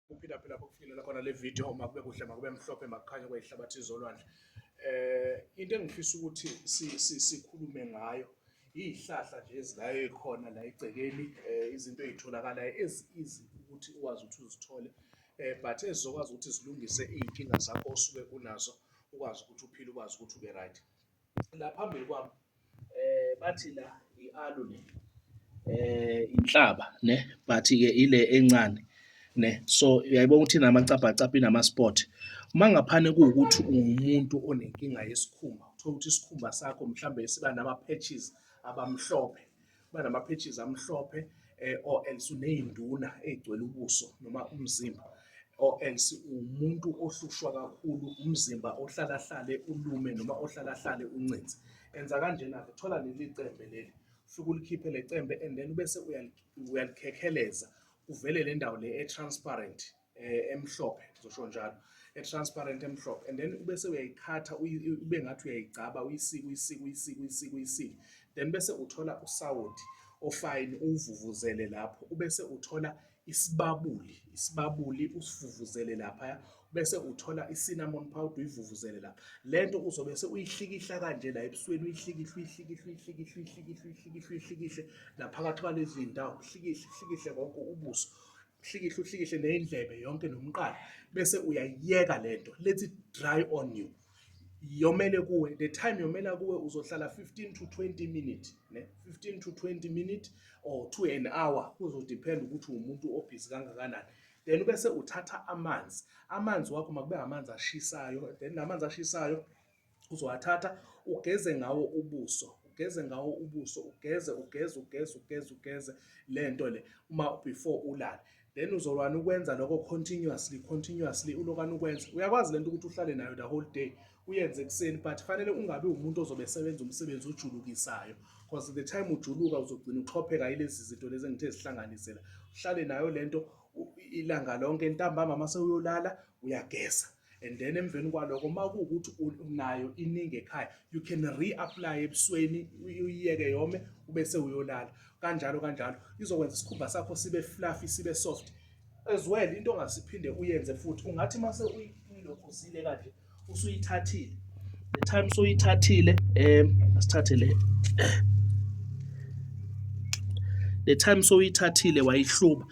kuphila phela bokufikelela khona le video uma kube kuhle makube mhlophe makukhanye kwayihlabathi izolwandle eh into engifisa ukuthi sikhulume ngayo izihlahla nje ezilayo ekhona la egcekeni eh, izinto ezitholakala as easy ukuthi uwazi ukuthi uzithole eh but ezokwazi ukuthi zilungise izinkinga zakho osuke kunazo ukwazi ukuthi uphile ukwazi ukuthi ube right la phambili kwami Bathi la i-aloe le inhlaba ne but-ke ile encane ne so uyayibona ukuthi inamacabhacabha inama-spot. Uma ngaphana kuwukuthi uwumuntu onenkinga yesikhumba, uthole ukuthi isikhumba sakho mhlawumbe siba nama-patches abamhlophe. banama-patches amhlophe eh, or else uney'nduna ey'gcwele ubuso noma umzimba or else umuntu ohlushwa kakhulu umzimba ohlalahlale ulume noma ohlalahlale uncinzi enza kanjena-ke thola leli cembe leli ufike ulikhiphe le cembe and then ubese uyalikhekheleza kuvele le ndawo le e-transparent eh, emhlophe ngizosho njalo e-transparent emhlophe and then ubese uyayikhatha ube ngathi uyayigcaba uyisike uyisike uyisike uyisike uyisike then bese uthola usawoti ofayini uwuvuvuzele lapho ubese uthola isibabuli isibabuli usivuvuzele lapha bese uthola i-cinnamon powder uyivuvuzele lapha le nto uzobe se uyihlikihla kanje la ebusweni uyihlikihle uyihlikihle uyihlikihle uyihlikihle uyihlikihle uyihlikihle naphakathi kwalezi ndawo uhlikihle uhlikihle konke ubuso uhlikihle uhlikihle neyindlebe yonke nomqala bese uyayiyeka lento let it dry on you yomele kuwe the time yomela kuwe uzohlala 15 to 20 minute ne 15 to 20 minute or to an hour kuzodepend ukuthi umuntu obhizi kangakanani then ubese uthatha amanzi amanzi wakho makube amanzi ashisayo then namanzi ashisayo uzowathatha ugeze ngawo ubuso, ugeze ngawo ubuso, ugeze ugeze ugeze ugeze ugeze le nto le uma before ulale. Then uzolwana ukwenza lokho continuously continuously ulokwana ukwenza. Uyakwazi lento ukuthi uhlale nayo the whole day uyenze ekuseni but fanele ungabi umuntu ozobe esebenza umsebenzi ojulukisayo because the time ujuluka uzogcina uxhopheka ilezi zinto lezi engithe zihlanganisela. Uhlale nayo lento ilanga lonke ntambama mase uyolala uyageza. and then emveni kwaloko uma kuwukuthi unayo iningi ekhaya you can reapply ebusweni uyiyeke yome ube sewuyolala kanjalo kanjalo izokwenza isikhumba sakho sibe fluffy sibe soft as well into ongasiphinde uyenze futhi ungathi uma sewuyilokhuzile kanje usuyithathile the time soyithathile um asithathe le the time soyithathile wayihluba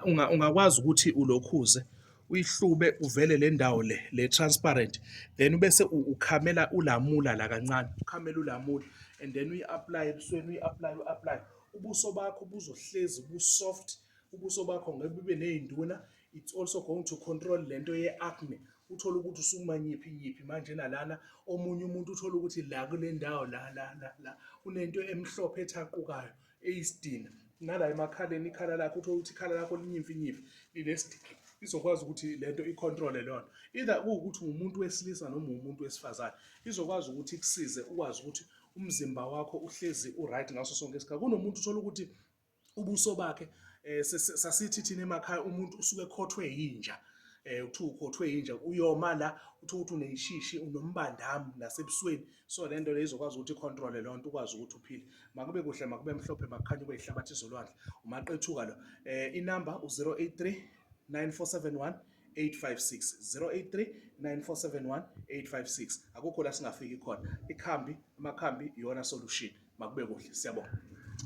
ungakwazi ukuthi ulokhuze uyihlube uvele le ndawo le le transparent then ubese ukhamela ulamula la kancane ukhamela ulamula and then uyi-apply ebusweni uyi-apply u-apply ubuso bakho buzohlezi bu-soft ubuso bakho ngeke bube ney'nduna it's also going to control le nto ye-acne uthole ukuthi usukuma nyiphi nyiphi manje nalana omunye umuntu uthole ukuthi la kule ndawo la la la la unento emhlophe ethaqukayo eyisidina nala emakhaleni ikhala lakho uthole ukuthi ikhala lakho linyimfinyimfi linesidina izokwazi ukuthi lento icontrole lona either kuwukuthi umuntu wesilisa noma umuntu wesifazane izokwazi ukuthi ikusize ukwazi ukuthi umzimba wakho uhlezi uright ngaso sonke isikhathi kunomuntu uthola ukuthi ubuso bakhe eh, sasithi thina emakhaya umuntu usuke ekhothwe yinja eh uthu ukhothwe inja uyoma la uthi ukuthi uneshishi unombandami nasebusweni so le nto le izokwazi ukuthi icontrole loo nto ukwazi ukuthi uphile makube kuhle makube mhlophe makukhanye kube yihlabathi izolwandle umaqethuka lo um inumber u-083 9471 856 083 9471 856 akukho la singafiki khona ikhambi amakhambi iyona solution makube kuhle siyabonga